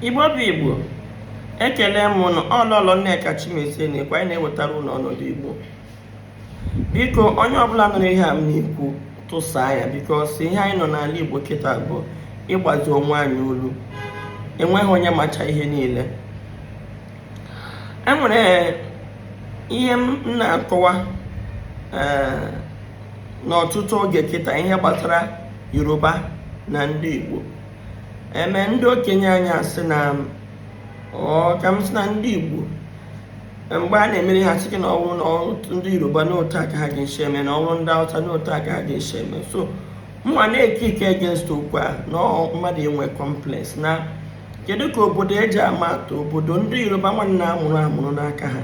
igbo bụ igbo ekele m ụnụ ọ lọlọ nneka chimezie na-ekwu anyị na-ewetara ụnụ ọnọdụ igbo biko onye ọbụla nụrụ ihe a m na-ekwu tụsaa ya bikos ihe anyị nọ n'ala igbo kịta bụ ịgbazi onwe anyị olu enweghị onye macha ihe niile enwere ihe m na-akọwa eh, n'ọtụtụ oge kịta ihe gbasara yoruba na ndị igbo eme ndị okenye anyị asị na ka m sị na ndị igbo mgbe a na-emere ha sị na ọ wụrụ na ndị yoruba na otu a ka ha ga-esi eme na ọ wụrụ ndị hausa na otu a ka ha ga-esi eme so mụnwa na-ekick against okwu a na mmadụ inwe complex na kedu ka obodo eji ama atụ obodo ndị yoruba nwa na-amụrụ amụrụ n'aka ha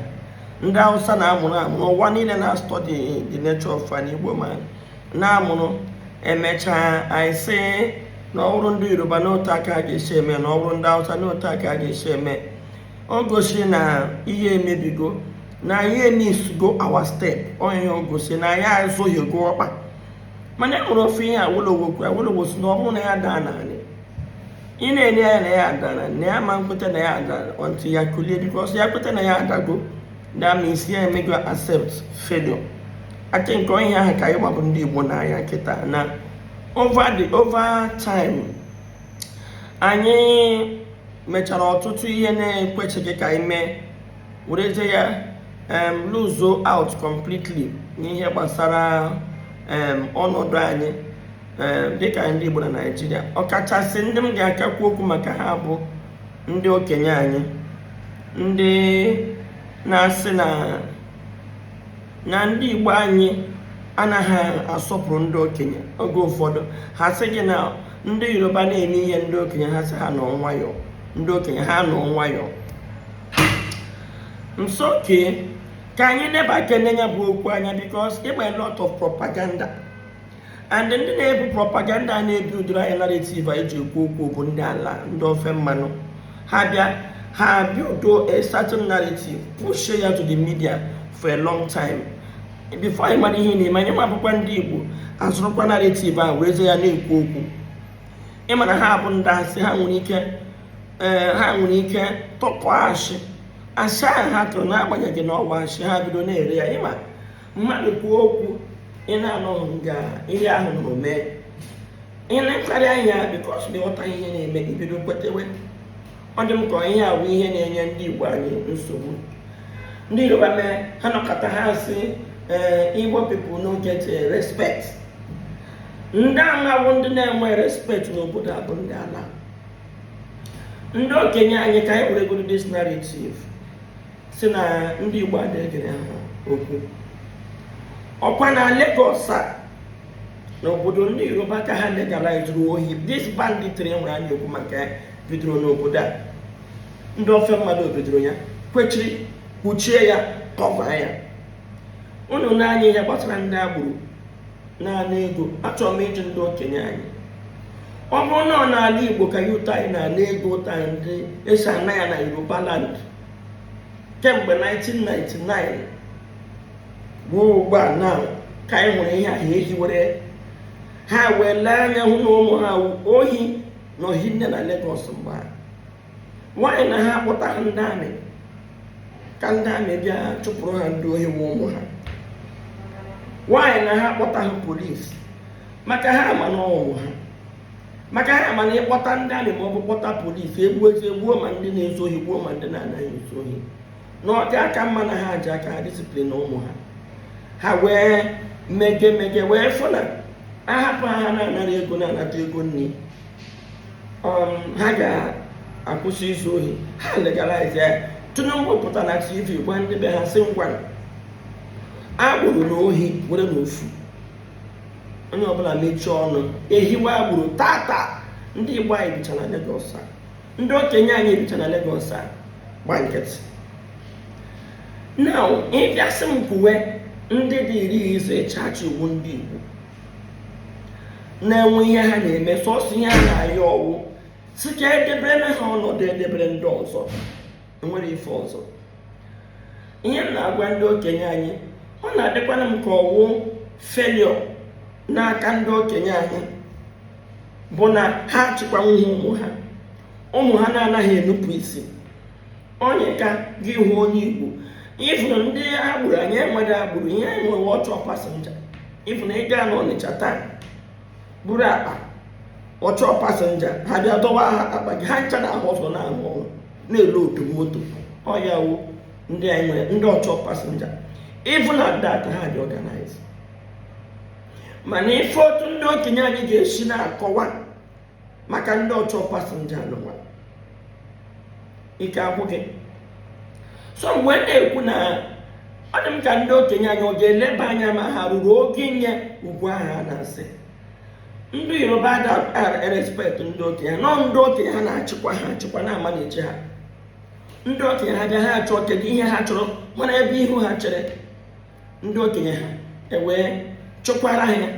ndị hausa na-amụrụ amụrụ ụwa niile na-astudy the nature of an igbo man na-amụrụ emechaa anyị sị na ọ wụrụ ndị yoruba na otu a ka a ga-esi eme na ọ wụrụ ndị hausa na otu a ka a ga-esi eme o gosi na ihe emebigo na anyị emissgo our step onye o gosi na anyị azọhiego ọkpa mana e nwere ofu ihe awolowo kwuru awolowo sị na ọ bụrụ na ya daa n'ala ị na-ele anya na ya adara na ya ma nkweta na ya adara until ya kulie bikos ya kweta na ya adago that means ya emego accept failure I think ọ ihe ahụ ka anyịnwa bụ ndị igbo nọ na ya kịta na over the over time anyị mechara ọtụtụ ihe na-ekwecheghị ka anyị mee werezie ya um, lose out completely n'ihe gbasara um, ọnọdụ anyị dịka ndị Igbo na Naịjirịa ọkachasị ndị m ga-aka ekwu okwu maka ha bụ ndị okenye anyị ndị na-asị na na ndị Igbo anyị anaghị asọpụrụ ndị okenye oge ụfọdụ ha sị gị na ndị Yoruba na-eme ihe ndị okenye ha sị ha nọ nwayọọ ndị okenye ha nọ nwayọọ so okay ka anyị nebakene ya bụ okwu anya because ịgba a lot of propaganda and ndị na-ebu propaganda a na-ebuildịrị anyị narrative anyị ji ekwu okwu bụ ndị ala ndị ofe mmanụ ha bịa ha ebuildụọ a certain narrative push ya to the media for a long time before anyị mara ihe na-eme anyịnwa bụkwa ndị Igbo azụrụkwa narrative a werezie ya na-ekwu okwu ị ma na ha bụ ndị asị ha nwere ike eh, ha nwere ike tụpụ asị asị ahụ ha tụrụ n'agbanyeghị na ọ wụ asị ha bido na-ere ya ịma mmadụ kwuo okwu ị na-anọghị nga ihe ahụ nọ mee ị na-ekparị anya because na ịghọta ihe na-eme i bido kwetewe ọ dị m ka ihe a wụ ihe na-enye ndị igbo anyị nsogbu ndị yoruba mee ha nọkọta ha sị ee eh, igbo people no get eh, respect ndị a ma wụ ndị na-enwe respect n'obodo a bụ ndị ala ndị okenye anyị ka anyị were goro this narrative sị na ndị Igbo adịghị egere ha okwu ọkwa na Lagos a n'obodo ndị Yoruba ka ha legalizuru ohi this banditry nwere anyị okwu maka ya bidoro n'obodo a ndị ofe mmanụ bidoro ya kwechiri kpuchie ya cover ya unu na-anụ ihe gbasara ndị agbero na-ana ego achọrọ m ịjụ ndị okenye anyị ọ bụrụ na ọ n'ala Igbo ka youth anyị na-ana ego otu ndị a si ana ya na Yoruba land kemgbe 1999 ruo ugbu a na ka anyị nwere ihe ahụ ehiwere ha wee lee anya hụ na ụmụ ha wụ ohi na ohi nne na Lagos mgbe ha nwaanyị na ha kpọta ha ndị army ka ndị army bịa chụpụrụ ha ndị ohi wụ ụmụ ha nwaanyị na ha kpọta ha polisi maka ha ma na ọ wụ ụmụ ha maka ha ma na ị kpọta ndị army ma ọ bụ kpọta polisi egbuozie gbuo ma ndị na-ezu ohi gbuo ma ndị na-anaghị ezu ohi na ọ ga-aka mma na ha ji aka ha discipline ụmụ ha ha wee mege mege wee fụ na a hapụ ha na-anara ego na-anata ego nri um, ha ga-akwụsị izu ohi ha legalize ya tinubu pụta na tv gwa ndị be ha sị ngwa agbero na ohi werenụ ofu onye ọbụla mechie ọnụ e hiwe agbero taata ndị igbo anyị bicha na Lagos a ndị okenye anyị bicha na Lagos a gba nkịtị now ị bịa sị m kwuwe ndị dị iri iso ịchachi iwu ndị igbo na-enwe ihe ha na-eme sọsọ ihe ha na-ayọ ọ wụ sị ka e debere ha ọnọdụ e debere ndị ọzọ nwere ife ọzọ ihe m na-agwa ndị okenye anyị ọ na-adịkwana m ka ọ wụ failure n'aka ndị okenye anyị bụ na ha achịkwanwughị ụmụ ha ụmụ ha na-anaghị enupụ isi onye ka gị hụ onye igbo ị fụrụ ndị agbero anyị enweghị agbero ihe anyị nwere ọchọ passenger ị fụrụ ị gaa n'ọnịcha taa buru akpa ọchọ passenger ha bịa dọwa ha akpa gị ha ncha na-ahụ ọzọ na-arụ ọrụ na-eloodu moto ọ ya wụ ndị anyị nwere ndị ọchọ passenger ị fụ na that ha dị organized mana ife otu ndị okenye anyị ga-esi na-akọwa maka ndị ọchọ pasenja anụwa ike agwụ gị so mgbe m na-ekwu na ọ dị m ka ndị okenye anyị ọ ga-eleba anya ma ha ruru ogo inye ugwu ahụ a na-asị ndị yoruba na-respekt ndị okenye no ndị okenye ha na-achịkwa ha achịkwa na-ama na-eche ha ndị okenye ha bịa ha achọ kedu ihe ha chọrọ mara ebe ihu ha chere ndị okenye ha ewee chụkwara ha ihe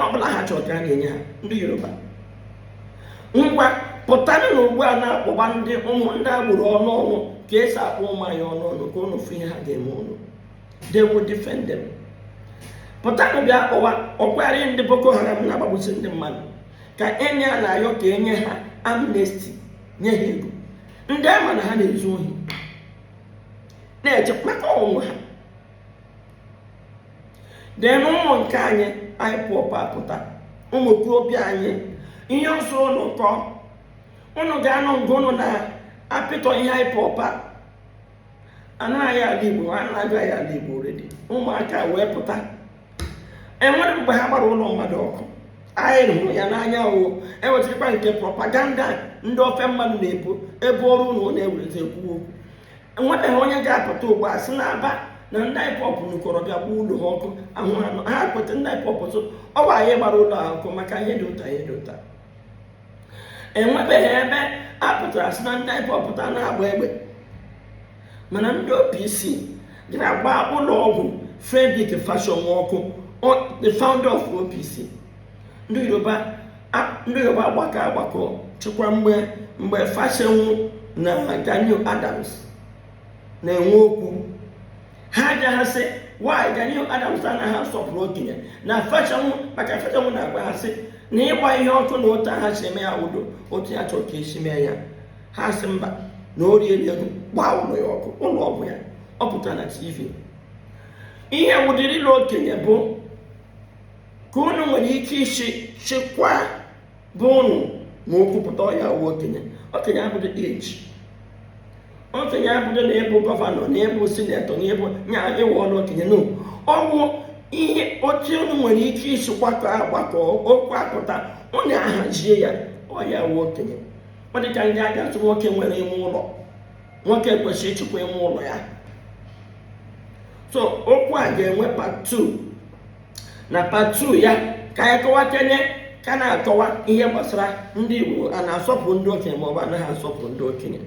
ọbụla ha chọrọ ka a na-enye ha ndị yoruba ngwa pụtanụ na ugbu a na-akpọba ndị ụmụ ndị agbụrụ ọnụ ọnụ ka esi akpọ ụmụ anyị ọnụ ọnụ ka ụnụ fụ ihe ha ga-eme ụnụ they will defend them pụtanụ bịa kpọwa ọ kwarị ndị boko haram na-agbagbusi ndị mmadụ ka enye a na-ayọ ka enye ha amnesti nye ha ego ndị a ma na ha na-ezu ohi na-eche maka onwe ha then ụmụ nke anyị IPOB apụta ụmụ okorobịa anyị ihe ọ sọ ụnụ kọ ụnụ ga-anọ mgbe ụnụ na-apịtọ ihe IPOB ana anyị ala igbo ha anago anyị ala igbo already ụmụaka wee pụta enwere mgbe ha gbara ụlọ mmadụ ọkụ anyị hụrụ ya n'anya o enwetịrịkwa nke propaganda ndị ofe mmanụ na-ebu ebuoro ụnụ na-ewerezi ekwu okwu enwebeghị onye ga-apụta ugbu a sị n'Aba na ndị IPOB nụkọrọ bịa gbaa ụlọ ha ọkụ ahụ anụ ha kweta ndị IPOB sị ọ bụ anyị gbara ụlọ ha ọkụ maka ihe dị otu a ihe dị otu a enwebeghị ebe a pụtara sị na ndị IPOB pụta na-agba egbe mana ndị OPC gara gbaa ụlọ ọgwụ Frederick Fasehun ọkụ the founder of OPC ndị yoruba agbakọ agbakọ chịkwa mgbe fasehun na gani adams na-enwe okwu ha ajụ ha sị why gani adams anaghị asọpụrụ okenye na fasehun maka fasehun na-agwa ha sị na ịgba ihe ọkụ na otu ha si eme awụghị otu ya chọrọ ka esi mee ya ha sị mba na o riela ego gbaa ụlọ ya ọkụ ụlọ ọgwụ ya ọ pụtara na tv ihe wụdịrị na okenye bụ ka unu nwere ike isi chịkwa be ụnụ ma okwu pụta ọ ya wụ okenye okenye abụghị age okenye abụghị na ịbụ gọvanọ na ịbụ sinetọ na ịbụ nya ịwụ ọnụ okenye no ọ bụ ihe otu unu nwere ike isi gbakọ agbakọ okwu apụta unu ahazie ya ọ ya wụ okenye ọ dị ka ndị ga-asị nwoke nwere ime ụlọ nwoke kwesịrị ịchịkwa ime ụlọ ya so okwu a ga-enwe part 2 na part 2 ya ka anyị kọwa ka anyị ka na-akọwa ihe gbasara ndị Igbo a na-asọpụrụ ndị okenye maọbụ anaghị asọpụrụ ndị okenye